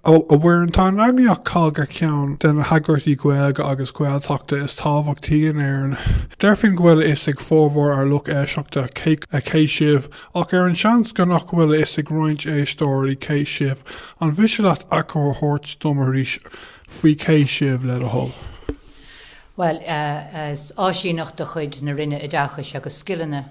A Mhuireann, tá an eagraíocht COGG ar cheann de na heagraíochtaí Gaeilge agus Gaeltachta is tábhachtaí in Éirinn. Deirfinn go bhfuil a fhios ag formhór ár lucht éisteachta cé sibh, ach ar an seans go nach bhfuil a fhios ag roinnt éisteoirí cé sibh, an mhiste leat achoimre a thabhairt dom arís faoi cé sibh, le do thoil? Bhuel, is áisíneacht de chuid na Roinne Oideachais agus Scileanna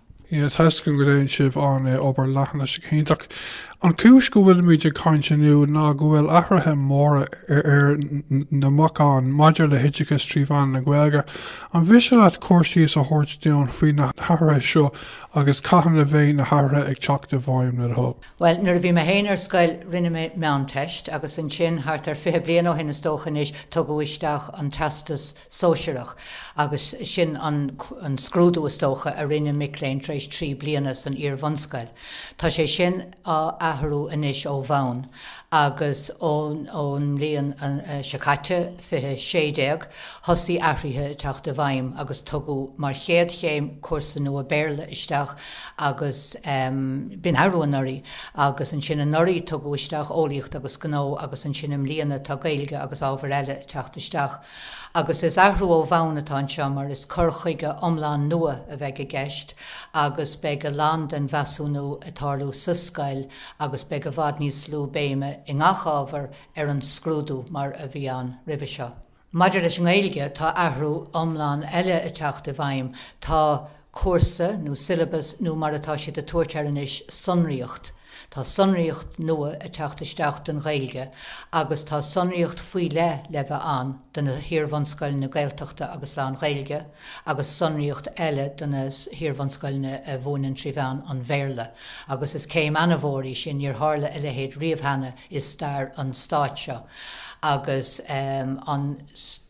Sea, tá, is cinnte go ndéanann sibh an-obair, leanaigí ar aghaidh cinnte. An chúis go bhfuilimid ag caint inniu ná go bhfuil athruithe móra ar na bacáin maidir le hoideachas trí mheán na Gaeilge. An mhiste leat cur síos a thabhairt dúinn faoi na hathruithe seo agus cathain a bheidh na hathruithe ag teacht i bhfeidhm le do thoil? Bhuel, nuair a bhí mé féin ar scoil, rinne mé Meánteist agus ansin, thart ar fiche bliain ó shin is dócha anois, tugadh isteach an Teastas sóisearach, agus sin an scrúdú, is dócha, a rinne mic léinn tar éis trí bliana san iar-bhunscoil. Tá sé sin á athrú anois ó bhonn, agus ón mbliain seo caite, 2016, thosaigh athruithe ag teacht i bhfeidhm agus tugadh mar chéad chéim cúrsa nua Béarla isteach agus b'in arú anuraidh, agus ansin anuraidh tugadh isteach Eolaíocht agus Gnó agus ansin i mbliana tá Gaeilge agus ábhair eile ag teacht isteach. Agus is athrú ó bhonn atá anseo mar is cur chuige iomlán nua a bheidh i gceist agus beidh a lán den mheasúnú ag tarlú sa scoil agus beidh i bhfad níos lú béime i ngach ábhar ar an scrúdú mar a bhí ann roimhe seo. Maidir leis an nGaeilge, tá athrú iomlán eile ag teacht i bhfeidhm, tá. cúrsa nó syllabus nó mar atá siad ag tabhairt air anois, sonraíocht. Tá sonraíocht nua ag teacht isteach don Ghaeilge agus tá sonraíocht faoi leith le bheith ann do na hiar-bhunscoileanna Gaeltachta agus lán-Ghaeilge agus sonraíocht eile do na hiar-bhunscoileanna a mhúineann trí mheán an Bhéarla agus is céim ana-mhór í sin, níor tharla a leithéid riamh cheana i stair an Stáit seo agus an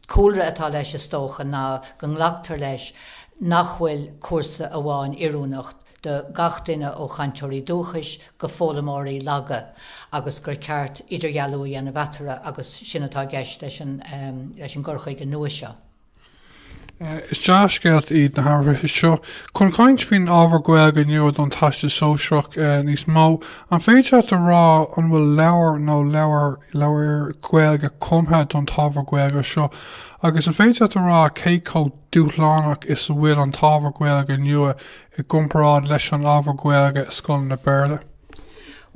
cúlra atá leis is dócha ná go nglactar leis nach bhfuil cúrsa amháin oiriúnach do gach duine ó chainteoirí dúchais go foghlaimeoirí laga agus gur ceart idirdhealú a dhéanamh eatarthu agus sin atá i gceist leis an gcur chuige nua seo. Is dea-scéalta iad na hathruithe seo chun caint faoin ábhar Gaeilge nua don Teastas Sóisearach níos mó An féidir leat a rá an bhfuil leabhar nó leabhair Ghaeilge cumtha don t-ábhar Gaeilge seo agus an féidir leat a rá cé chomh dúshlánach is a bhfuil an t-ábhar Gaeilge nua i gcomparáid leis an ábhar Gaeilge i scoileanna Béarla?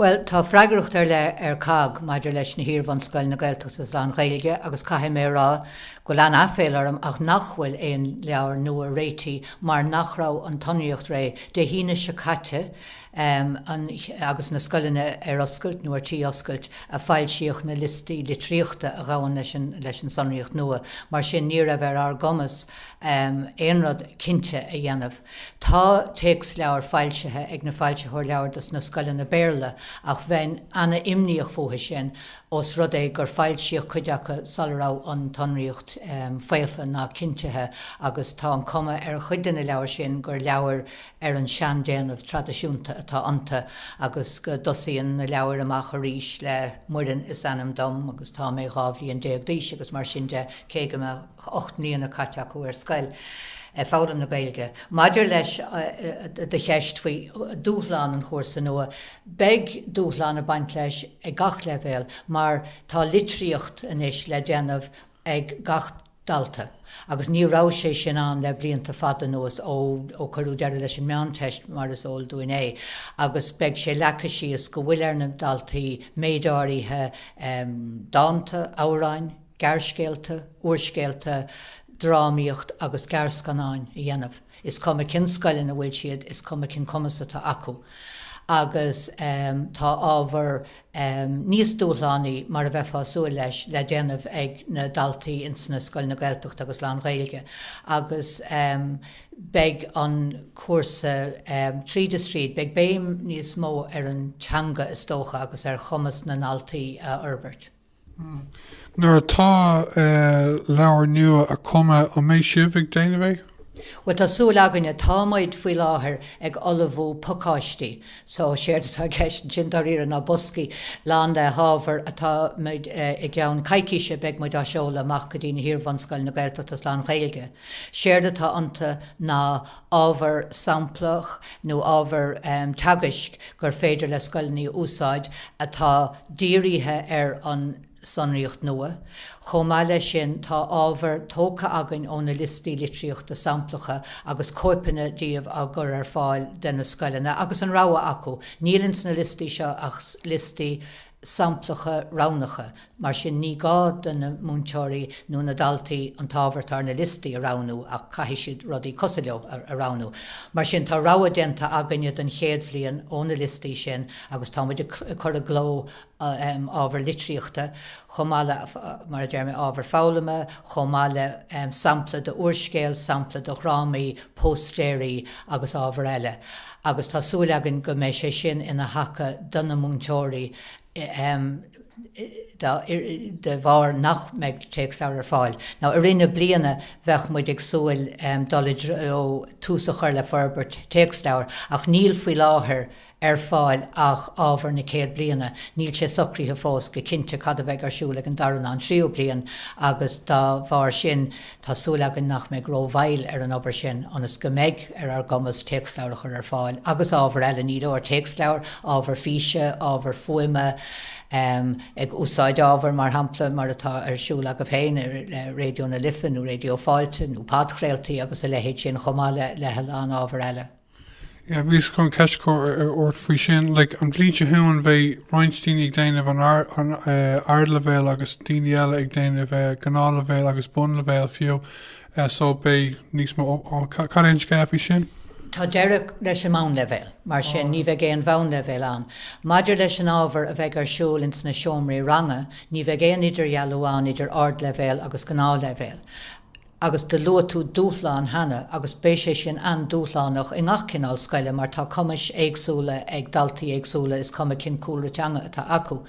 Bhuel, tá freagracht ar leith ar COGG maidir leis na hiar-bhunscoileanna Gaeltachta agus lán-Ghaeilge agus caithfidh mé a rá go bhfuil an-aiféal orm ach nach bhfuil aon leabhar nua réitithe mar nach raibh an tsonraíocht réidh go dtí an Aoine seo caite an, agus na scoileanna ar oscailt nó ar tí oscailt, a foilsíodh na liostaí litríochta a ghabhann leis an tsonraíocht nua. Mar sin, ní raibh ar ár gcumas aon rud cinnte a dhéanamh. Tá téacsleabhair foilsithe ag na foilsitheoir leabhar dos na scoileanna Béarla ach bheinn ana-imníoch fúthu sin os rud é gur foilsíodh cuid acu sula raibh an tsonraíocht faofa ná cinntithe agus tá an cuma ar chuid de na leabhair sin gur leabhair ar an seandéanamh traidisiúnta atá iontu agus go dtosaíonn na leabhair amach arís le 'Muireann is ainm dom agus tá mé dhá bhliain déag d'aois' agus mar sin de cé go mbeadh ocht mbliana caite acu ar scoil ag foghlaim na Gaeilge. Maidir le do cheist faoi dhúshlán an chúrsa nua, beidh dúshlán ag baint leis ag gach leibhéal mar tá litríocht anois le déanamh ag gach. dalta. Agus ní raibh sé sin ann le blianta fada anuas, ó cuireadh deireadh leis an Meánteist, mar is eol dúinn é. Agus beidh sé leagtha síos go bhfuil ar na daltaí méid áirithe dánta, amhráin, gearrscéalta, úrscéalta, drámaíocht agus gearrscannáin a dhéanamh. Is cuma cén scoil ina bhfuil siad, is cuma cén cumas atá acu, agus tá ábhar níos dúshlánaí, mar a bheifeá súil leis, le déanamh ag na daltaí ins na scoileanna Gaeltachta agus lán-Ghaeilge, agus beidh an cúrsa, tríd is tríd, beidh béim níos mó ar an teanga, is dócha, agus ar chumas na ndaltaí a fhorbairt. Nuair atá leabhair nua á gcumadh, an mbeidh sibh ag déanamh? Bhuel, tá súil againne. Támuid, faoi láthair, ag ullmhú pacáistí. So, séard atá i gceist ansin, dáiríre, ná boscaí lán le hábhar atá muid, i gceann coicíse, beidh muid á seoladh amach go dtí na hiar-bhunscoileanna Gaeltachta is lán-Ghaeilge. Séard atá iontu ná ábhar samplach nó ábhar teagaisc gur féidir le scoileanna a úsáid atá dírithe ar an tsonraíocht nua. Chomh maith leis sin, tá ábhar tógtha againn ó na liostaí litríochta samplacha agus cóipeanna díobh á gcur ar fáil do na scoileanna agus an rogha acu. Níl ins na liostaí seo ach liostaí. samplacha roghnacha. Mar sin, ní gá do na múinteoirí nó na daltaí an t-ábhar atá ar na liostaí a roghnú ach caithfidh siad rudaí cosúil leo a roghnú. Mar sin, tá rogha déanta againne don chéad bhliain ó na liostaí sin agus tá muid ag cur i gcló ábhar litríochta chomh maith le, mar a deir mé, ábhar foghlama chomh maith le sampla d'úrscéal, sampla de dhrámaí, póstaeirí agus ábhar eile. agus tá súil againn go mbeidh sé sin ina thaca do na múinteoirí de bharr nach mbeidh téacsleabhair ar fáil ná i rith na bliana beidh muid ag súil dul i dtreo tús a chur le forbairt téacsleabhar ach níl faoi láthair ar fáil ach ábhar na chéad bhliana. Níl sé socraithe fós go cinnte cad a bheidh ar siúl ag an dara ná an tríú bliain agus dá bharr sin Tá súil againn nach mbeidh rómhoill ar an obair sin ionas go mbeidh ar ár gcumas téacsleabhair a chur ar fáil agus ábhar eile, ní leor téacsleabhair, ábhar físe, ábhar fuaime, ag úsáid ábhair, mar shampla, mar atá ar siúl agaibh féin ar Raidió na Life nó Raidió Fáilte nó podchraoltaí agus a leithéid sin chomh maith le a lán ábhar eile. Yeah, bhíos chun ceist a chur ort faoi sin, like an bhliain seo chugainn beidh roinnt daoine ag déanamh an ardleibhéal agus daoine eile ag déanamh gnáthleibhéal agus bunleibhéal fiú so beidh níos mó, cad é an scéal faoi sin? Tá deireadh leis an mbonnleibhéal, mar sin ní bheidh aon bhonnleibhéal ann. Maidir leis an ábhar a bheidh ar siúl ins na seomraí ranga, ní bheidh aon idirdhealú ann idir ardleibhéal agus gnáthleibhéal. agus do luaigh tú dúshlán cheana agus beidh sé sin an-dúshlánach i ngach cineál scoile mar tá cumais éagsúla ag daltaí éagsúla is cuma cén cúlra teanga atá acu.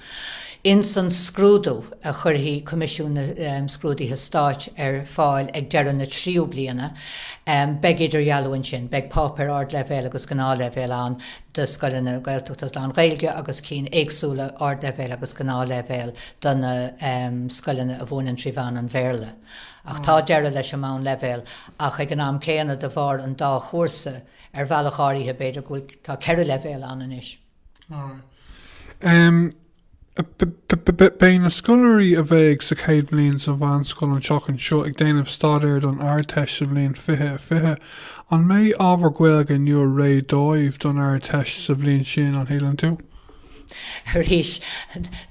Ins an scrúdú a chuirfidh Coimisiún Scrúduithe Stáit ar fáil ag deireadh na tríú bliana beidh idirdhealú ansin, beidh páipéar ardleibhéil agus gnáthleibhéil ann do scoileanna Gaeltachta is lán-Ghaeilge agus cinn éagsúla ardleibhéil agus gnáthleibhéil do na scoileanna a mhúineann trí mheán an Bhéarla. Ach tá deireadh leis an mbonnleibhéal ach ag an am céanna de bharr an dá chúrsa, ar bhealach áirithe b'fhéidir go bhfuil, tá ceithre leibhéal ann anois. Beidh na scoláirí a bheidh sa chéad bhliain sa mheánscoil an tseachtain seo ag déanamh staidéir don Ardteist sa bhliain fiche fiche. An mbeidh ábhar Gaeilge nua réidh dóibh don Ardteist sa bhliain sin, an shíleann tú? Arís,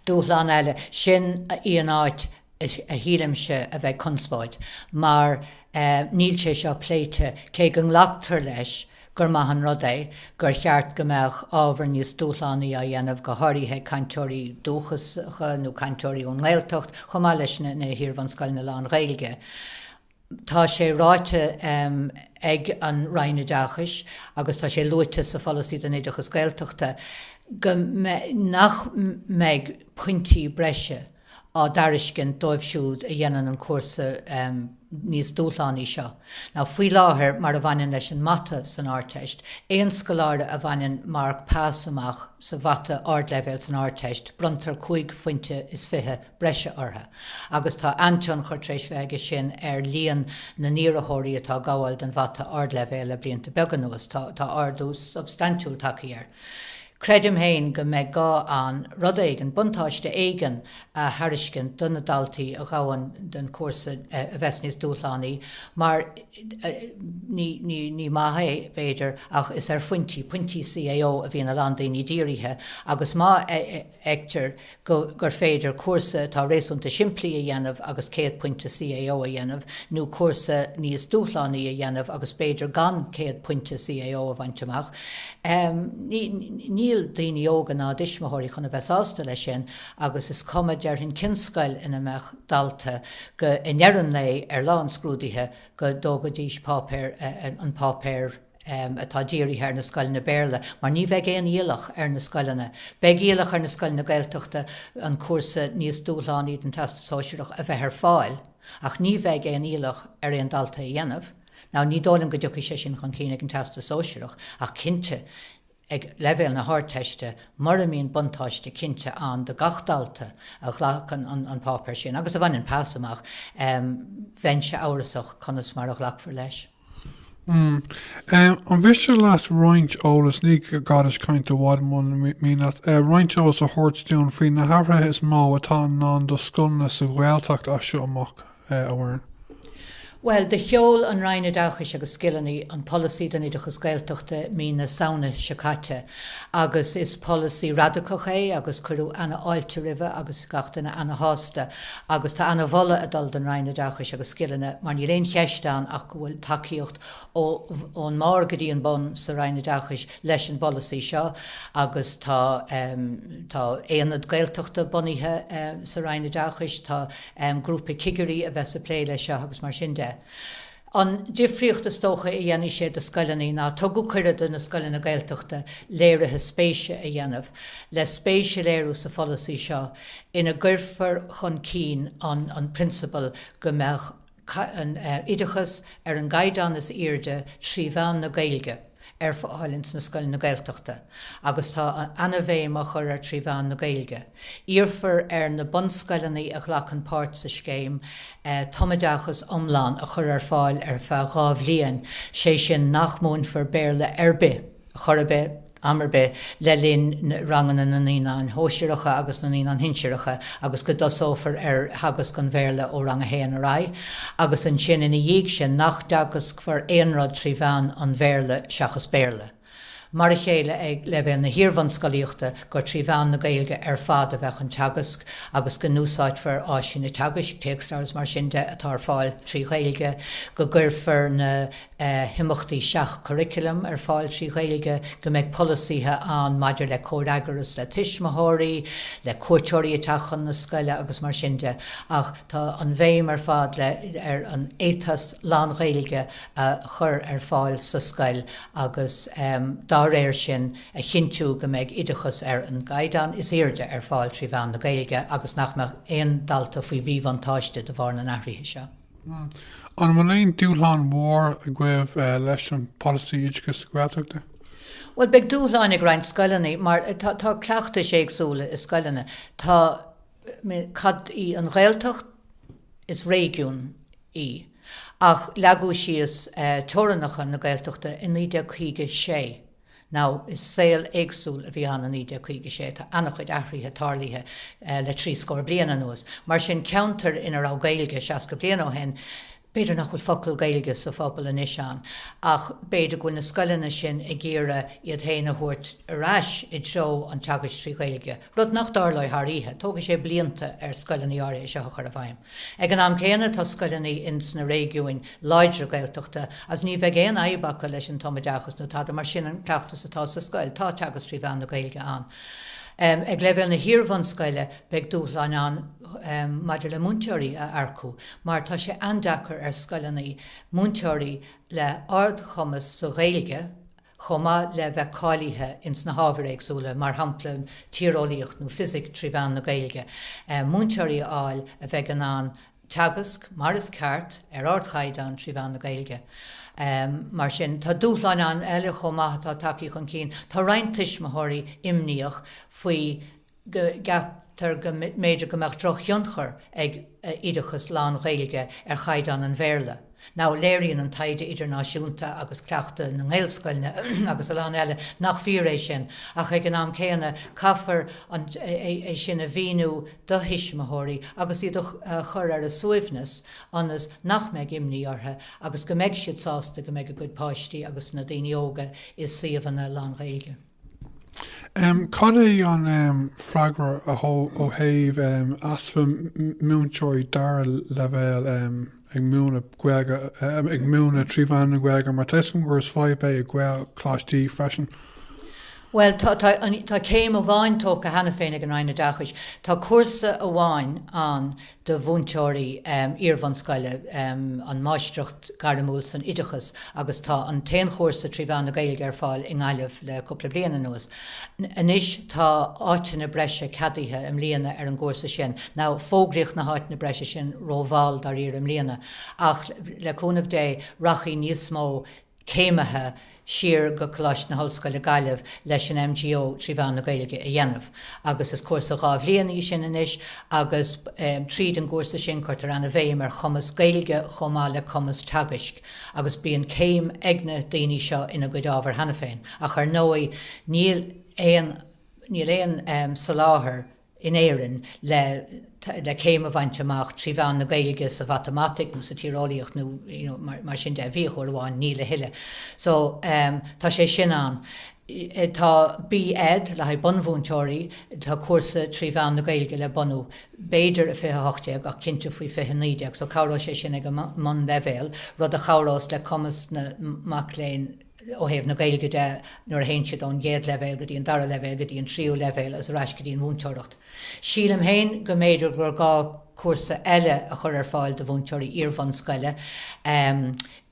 dúshlán eile. Sin í an áit a shílimse a bheidh conspóid, mar níl sé seo pléite, cé go nglactar leis gur maith an rud é, gur cheart go mbeadh ábhar níos dúshlánaí á dhéanamh, go háirithe cainteoirí dúchasacha nó cainteoirí ón nGaeltacht, chomh maith leis na hiarbhunscoileanna lán-Ghaeilge. Tá sé ráite ag an Roinn Oideachais agus tá sé luaite sa Pholasaí don Oideachas Gaeltachta go nach mbeidh pointí breise á dtairiscint dóibh siúd a dhéanann an cúrsa níos dúshlánaí seo ná faoi láthair mar a bhaineann leis an Mata san Ardteist. Aon scoláire a bhaineann marc pas amach sa Mhata Ardleibhéal san Ardteist, bronntar cúig phointe is fiche. breise orthu, agus tá an-tionchar tar éis bheith aige sin ar líon na n-iarrathóirí atá ag gabháil don mhata ardleibhéil le blianta beaga anuas. Tá ardú substaintiúil tagtha air. Creidim féin go mbeidh gá an rud éigin, buntáiste éigin, a thairiscint do na daltaí a ghabhann don chúrsa a bheas níos dúshlánaí, mar ní maith é, b'fhéidir, ach is ar phointí, pointí CAO a bhíonn a lán daoine dírithe, agus má. fheictear gur féidir cúrsa atá réasúnta simplí a dhéanamh agus 100 pointe CAO a dhéanamh, nó cúrsa níos dúshlánaí a dhéanamh agus b'fhéidir gan 100 pointe CAO a bhaint amach. Níl daoine óga ná a dtuismitheoirí chun a bheith sásta leis sin agus is cuma, déarfainn, cén scoil ina mbeadh dalta go, i ndeireadh an lae, ar lá an scrúdaithe, go dtógfaidís páipéar, an páipéar. atá dírithe ar na scoileanna Béarla, mar ní bheidh aon iallach ar na scoileanna. Beidh iallach ar na scoileanna Gaeltachta an cúrsa níos dúshlánaí den Teastas Sóisearach a bheith ar fáil, ach ní bheidh aon iallach ar aon dalta é a dhéanamh. Now, ní dóigh liom go dtiocfaidh sé sin chun cinn ag an Teastas Sóisearach, ach cinnte, ag leibhéal na hArdteiste, mura mbíonn buntáiste cinnte ann do gach dalta a ghlacann an páipéar sin agus a bhaineann pas amach, bheinnse amhrasach conas mar a ghlacfar leis. An miste leat roinnt eolas, ní gá duitse caint i bhfad muna mian leat, roinnt eolas a thabhairt dúinn faoi na hathruithe is mó atá i ndán do scoileanna sa Ghaeltacht as seo amach? amháin. Bhuel, do sheol an Roinn Oideachais agus Scileanna an Polasaí don Oideachas Gaeltachta mí na Samhna seo caite agus is polasaí radacach é agus cuireadh ana-fháilte roimhe agus gach duine ana-shásta agus tá ana-mholadh ag dul don Roinn Oideachais agus Scileanna mar níl aon cheist ann ach go bhfuil tacaíocht ón mbarr go dtí an bun sa Roinn Oideachais leis an bpolasaí seo agus tá Aonad Gaeltachta bunaithe sa Roinn Oideachais, tá em. grúpa cigirí a bheidh ag plé leis seo agus mar sin de. An difríocht is dócha a dhéanfaidh sé do scoileanna ná, tugadh cuireadh do na scoileanna Gaeltachta léiriú spéise a dhéanamh le spéis a léiriú sa pholasaí seo ina gcuirfear chun cinn an an prionsabal go mbeadh an, eh, oideachas ar an gcaighdeán is airde trí mheán na Gaeilge. ar fáil ins na scoileanna Gaeltachta agus tá ana-bhéim á cur air trí mheán na Gaeilge. Iarrfar ar na bunscoileanna a ghlacann páirt sa scéim tumoideachas iomlán a chur ar fáil ar feadh dhá bhliain, sé sin nach múinfear Béarla ar bith, chor ar bith, am ar bith le linn ranganna na naíonáin shóisearacha agus na naíonáin shinsearacha agus go dtosófar ar theagasc an Bhéarla ó rang a haon ar aghaidh. agus ansin ina dhiaidh sin nach dteagascfar aon rud trí mheán an Bhéarla seachas Béarla, mar a chéile ag leibhéal na hiar-bhunscolaíochta, gur trí mheán na Gaeilge ar fad a bheadh an teagasc agus go n-úsáidfear áiseanna teagaisc, téacsleabhair is mar sin de, atá ar fáil trí Ghaeilge, go gcuirfear na. himeachtaí seach-churaclaim ar fáil trí Ghaeilge, go mbeidh polasaithe ann maidir le comhfhreagras le tuismitheoirí, le cuairteoirí ag teacht chun na scoile agus mar sin de. Ach tá an bhéim ar fad le ar an ethos lán-Ghaeilge a chur ar fáil sa scoil agus dá réir sin a chinntiú go mbeidh oideachas ar an gcaighdeán is airde ar fáil trí mheán na Gaeilge agus nach mbeadh aon dalta faoi mhíbhuntáiste de bharr na n-athruithe seo. An bhfuil aon dúshlán mhór agaibh leis an Polasaí Oideachais Gaeltachta? Bhuel, beidh dúshláin ag roinnt scoileanna mar tá cleachtais éagsúla i scoileanna. Tá, cad í an Ghaeltacht? Is réigiún í. Ach leagadh síos teorannacha na Gaeltachta i 1956. now is saol éagsúil a bhí ann i 1956, tá an-chuid athruithe tarlaithe le trí scór bliain anuas. Mar sin, ceantar ina raibh Gaeilge seasca bliain ó shin, b'fhéidir nach bhfuil focal Gaeilge sa phobal anois ann, ach b'fhéidir go bhfuil na scoileanna sin ag iarraidh iad féin a thabhairt ar ais i dtreo an teagaisc trí Ghaeilge. rud nach dtarlóidh thar oíche, tógfaidh sé blianta ar scoileanna áirithe é seo a chur i bhfeidhm. Ag an am céanna, tá scoileanna ins na réigiúin láidre Gaeltachta agus ní bheidh aon fhadhb acu leis an tumoideachas nó tada mar sin an cleachtas atá sa scoil, tá teagasc trí mheán na Gaeilge ann. Ag leibhéal na hiarbhunscoile, beidh dúshláin ann maidir le múinteoirí a earcú mar tá sé an-deacair ar scoileanna múinteoirí le ardchumas sa Ghaeilge chomh maith le bheith cáilithe ins na hábhair éagsúla, mar shampla, tíreolaíocht nó fisic, trí mheán na Gaeilge, múinteoirí a fháil a bheidh in ann teagasc mar is ceart, ar ardchaighdeán, trí mheán na Gaeilge. Mar sin, tá dúshlán ann eile chomh maith atá tagthaí chun cinn. Tá roinnt tuismitheoirí imníoch faoi go gceaptar go mb'fhéidir go mbeadh drochthionchar ag oideachas lán-Ghaeilge ar chaighdeán an Bhéarla, now léiríonn an taighde idirnáisiúnta agus cleachtas na nGaelscoileanna agus a lán eile nach fíor é sin, ach ag an am céanna caithfear é sin a mhíniú do thuismitheoirí agus iad a chur ar a suaimhneas ionas nach mbeidh imní orthu agus go mbeidh siad sásta go mbeidh a gcuid páistí agus na daoine óga i suíomhanna lán-Ghaeilge. Cad é an freagra ó thaobh easpa múinteoirí dara leibhéal ag múineadh Gaeilge, ag múineadh trí mheán na Gaeilge, mar tá 'fhios agam gur is fadhb é i Gaelcholáistí freisin? Bhuel, tá céim amháin tógtha cheana féin ag an Roinn Oideachais. Tá cúrsa amháin ann do mhúinteoirí iarbhunscoile an Máistreacht Ghairmiúil san Oideachas agus tá an t-aon chúrsa trí mheán na Gaeilge ar fáil i nGaillimh le cúpla bliain anuas. Anois tá áiteanna breise ceadaithe i mbliana ar an gcúrsa sin, now fógraíodh na háiteanna breise sin rómhall dáiríre i mbliana, ach le cúnamh Dé rachaidh níos mó céimithe siar go Coláiste na hOllscoile, Gaillimh leis an MGO trí mheán na Gaeilge a dhéanamh agus is cúrsa dhá bhliain í sin anois agus tríd an gcúrsa sin cuirtear an-bhéim ar chumas Gaeilge chomh maith le cumas teagaisc agus bíonn céim ag na daoine seo ina gcuid ábhar cheana féin ach ar ndóigh níl aon níl aon soláthar in Éirinn le céim a bhaint amach trí mheán na Gaeilge sa mhatamaitic nó sa tíreolaíocht nó mar sin de, bhí, uair amháin, níl a thuilleadh. So, tá sé sin ann. Tá B-Ed le haghaidh bunmhúinteoirí, tá cúrsa trí mheán na Gaeilge le bunú, b'fhéidir i 2018 ach cinnte faoi 2019, so cabhróidh sé sin ag an mbunleibhéal, rud a chabhrós le cumas na mac léinn. ó thaobh na Gaeilge de, nuair a théann siad ón gcéad leibhéal go dtí an dara leibhéal go dtí an tríú leibhéal is ar ais go dtí an mhúinteoireacht. Sílim féin go mb'fhéidir gur gá cúrsa eile a chur ar fáil do mhúinteoirí iarbhunscoile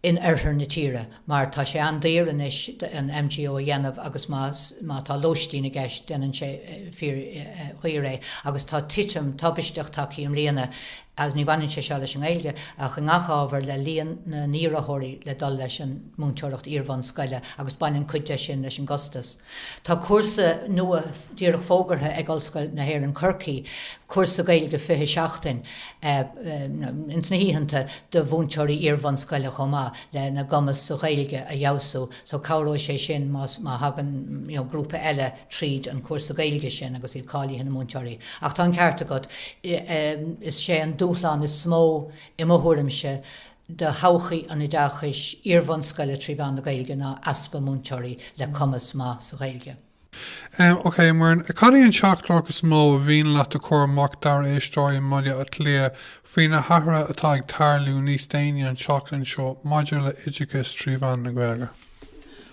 in oirthear na tíre mar tá sé an-daor anois an MGO a dhéanamh agus má tá lóistín i gceist déanann sé fíordhaor é agus tá titim tubaisteach tagtha i mbliana agus ní bhaineann sé seo leis an nGaeilge ach i ngach ábhar, le líon na n-iarrathóirí le dul leis an múinteoireacht iarbhunscoile agus baineann cuid de sin leis an gcostas. Tá cúrsa nua díreach fógartha ag Ollscoil na hÉireann Corcaigh, cúrsa Gaeilge 20 seachtain, ins na hoícheanta, do mhúinteoirí iarbhunscoile chomh maith, lena gcumas sa Ghaeilge a fheabhsú, so cabhróidh sé sin má thagann grúpa eile. tríd an gcúrsa Gaeilge sin agus iad cáilithe ina múinteoirí. Ach tá an ceart agat, is é an dúshlán is mó, i mo thuairimse, do thodhchaí an oideachais iar-bhunscoile trí mheán na Gaeilge ná easpa múinteoirí le cumas maith sa Ghaeilge. Ok, Muireann, cad é an teachtaireacht is mó ba mhian leat a chur amach dár éisteoirí i mBaile Átha Cliath faoi na hathruithe atá ag tarlú níos déanaí an tseachtain seo maidir le oideachas trí mheán na Gaeilge?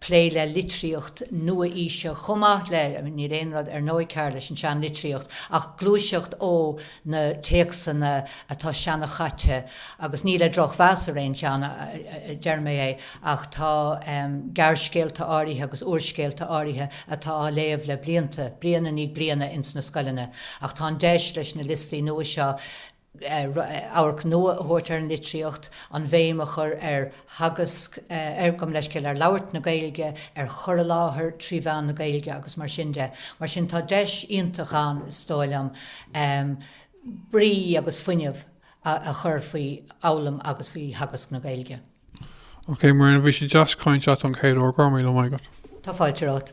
plé le litríocht nua-aoise chomh maith le níl aon rud ar ndóigh cearr leis an seanlitríocht ach gluaiseacht ó na téacsanna atá seanchaite agus ní le drochmheas ar aon cheann a deirim é ach tá gearrscéalta áirithe agus úrscéalta áirithe atá á léamh le blianta bliain i ndiaidh bliana ins na scoileanna ach tá an deis leis na liostaí nua seo radharc nua a thabhairt ar an litríocht, an bhéim a chur ar theagasc, gabh mo leithscéal, ar labhairt na Gaeilge, ar chur i láthair trí mheán na Gaeilge agus mar sin de. Mar sin tá deis iontach ann, is dóigh liom, brí agus fuinneamh a chur faoi fhoghlaim agus faoi theagasc na Gaeilge. OK, Muireann, bhí sé deas caint leat an chéad uair, go raibh míle maith agat. Tá fáilte romhat.